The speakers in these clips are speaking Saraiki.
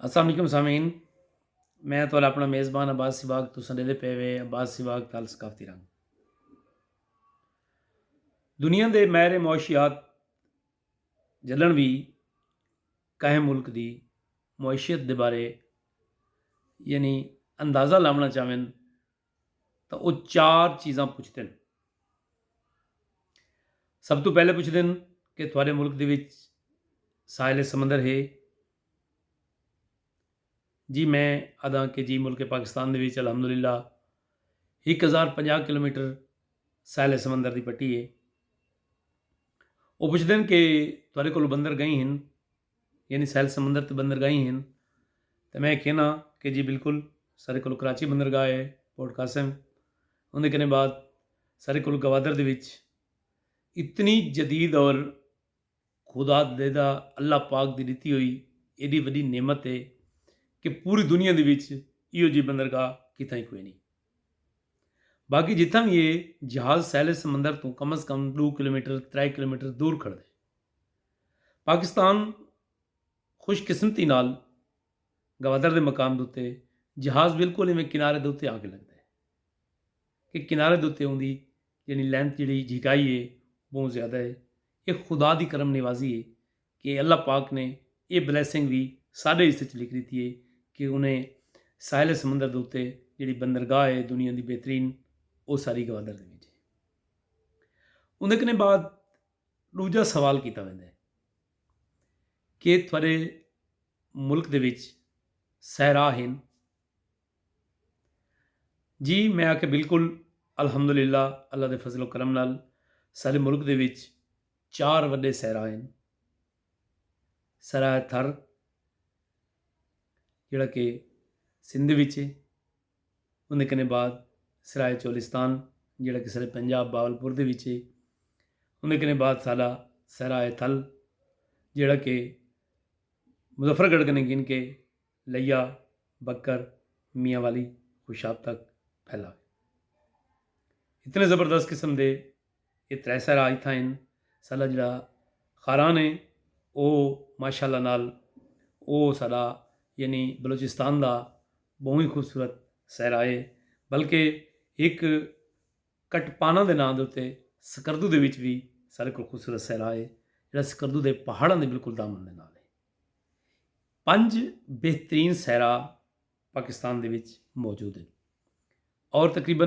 السلام علیکم سامعین میں تو اپنا میزبان عباس سواگ تو سنڈے دے پے وے عباس سواگ تال ثقافتی رنگ دنیا دے میرے معاشیات جلن بھی کہیں ملک دی معیشت دے بارے یعنی اندازہ لاونا چاہویں تاں او چار چیزاں پچھدن سب تو پہلے پچھدن کہ تھوڑے ملک دے وچ ساحل سمندر ہے جی میں ادا کہ جی ملک پاکستان دے وچ الحمدللہ ایک ہزار پنجاہ کلو میٹر ساحل سمندر دی پٹی ہے وہ پوچھتے ہیں کہ تھوڑے کو بندر گئی ہیں یعنی ساحل سمندر تے بندرگاہیں ہن تاں میں کہنا کہ جی بالکل سارے کول کراچی بندرگاہ ہے پورٹ قاسم اندے کنے بعد سارے کول گوادر دے وچ اتنی جدید اور خدا دیدہ اللہ پاک دی ڈتی ہوئی ایڈی وڈی نعمت ہے کہ پوری دنیا دے وچ ایو جی بندرگاہ کتھاں ہی کوئی نہیں باقی جتھاں بھی ہے جہاز ساحل سمندر توں کم از کم ڈو کلومیٹر ترے کلومیٹر دور کھڑ دے پاکستان خوش قسمتی نال گوادر دے مقام دے اتے جہاز بالکل ایویں کنارے دے اتے آ کے لگدا ہے کہ کنارے دے اتے اوندی یعنی لینتھ جیڑھی جھکائی ہے بہوں زیادہ ہے اے خدا دی کرم نوازی ہے کہ اللہ پاک نے اے بلیسنگ وی ساڈے حصے چ لکھ ڈتی ہے کہ انہیں ساحل سمندر دے اتے جیڑھی بندرگاہ ہے دنیا دی بہترین او ساری گوادر دے وچ ہے اوندے کنے بعد ݙوجھا سوال کیتا ویندا ہے کہ تھوڑے ملک دے وچ صحرا ہن جی میں آ کے بالکل الحمد للہ اللہ دے فضل و کرم نال سارے ملک دے وچ چار وڈے صحرا ہیں سرا تھر جڑا کہ سندھ وچ ہے اوندے کنے بعد سرائے چولستان جیڑھا کہ سرے پنجاب بہاولپور دے وچ ہے اوندے کنے بعد ساڈا سرائے تھل جیڑھا کہ مظفر گڑھ کنے گھن کے لیا بکر میاں والی خوشاب تک پھیلا اتنے زبردست قسم دے اے ترے سہرا اتھاں ہن۔ ساڈا جیڑھا خاران اے او ماشاء اللہ نال او ساڈا یعنی بلوچستان دا بہوں ہی خوبصورت سہرا اے۔ بلکہ ہک کٹ پانا دے ناں دے اتے سکردو دے وچ وی ساڈے کول خوبصورت سہرا اے۔ جیڑھا سکردو دے پہاڑاں دے بالکل دامن دے نال اے۔ پنج بہترین سہرا پاکستان دے وچ موجود ہن۔ اور تقریبا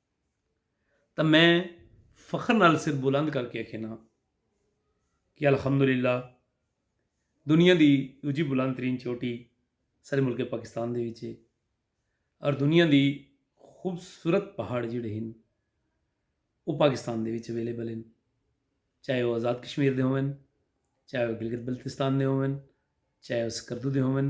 تاں میں فخر نال سر بلند کر کے اکھینا کہ الحمدللہ دنیا دی دوجی بلند ترین چوٹی سارے ملک پاکستان دے وچ ہے اور دنیا دی خوبصورت پہاڑ جڑے ہیں وہ پاکستان دے وچ اویلیبل ہیں چاہے وہ آزاد کشمیر دے ہوں چاہے وہ گلگت بلتستان دے ہوں چاہے وہ سکردو دے ہوں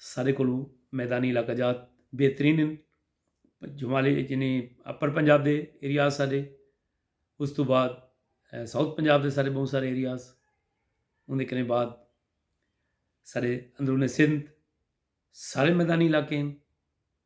سارے کولوں میدانی علاقہ جات بہترین ہن جمالی یعنی اپر پنجاب دے ایریاز سارے اس تو بعد ساؤتھ پنجاب دے سارے بہت سارے ایریاز ان دے کنے بعد سارے اندرون سندھ سارے میدانی علاقے ہن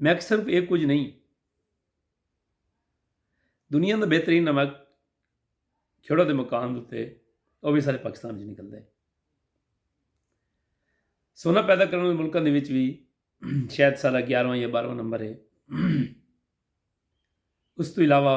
میک صرف اے کجھ نئیں دنیا دا بہترین نمک کھیڑو دے مقام دے او بھی سارے پاکستان وچ نکلدا ہے سونا پیدا کرنے والے ملکوں دے وچ بھی شاید سارا گیارہواں یا بارہواں نمبر ہے اس تو علاوہ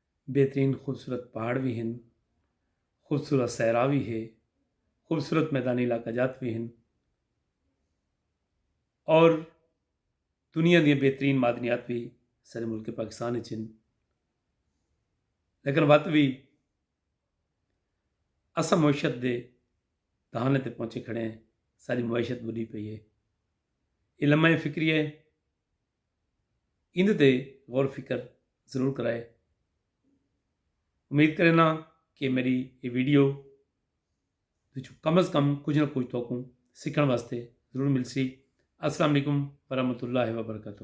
بہترین خوبصورت پہاڑ وی ہن، خوبصورت صحرا وی ہے، خوبصورت میدانی علاقہ جات وی ہن اور دنیا دیاں بہترین معدنیات وی سارے ملک پاکستان اچ ہن لیکن وت وی اساں معیشت دے دہانے تے پہنچے کھڑے ہیں ساری معیشت بڈی پئی ہے یہ لمحہ فکری ہے ایندے تے غور فکر ضرور کرائے۔ امید کرینا کہ میری یہ ویڈیو وچوں کم از کم کچھ نہ کچھ توکوں سکھن واسطے ضرور ملسی۔ السلام علیکم ورحمۃ اللہ وبرکاتہ۔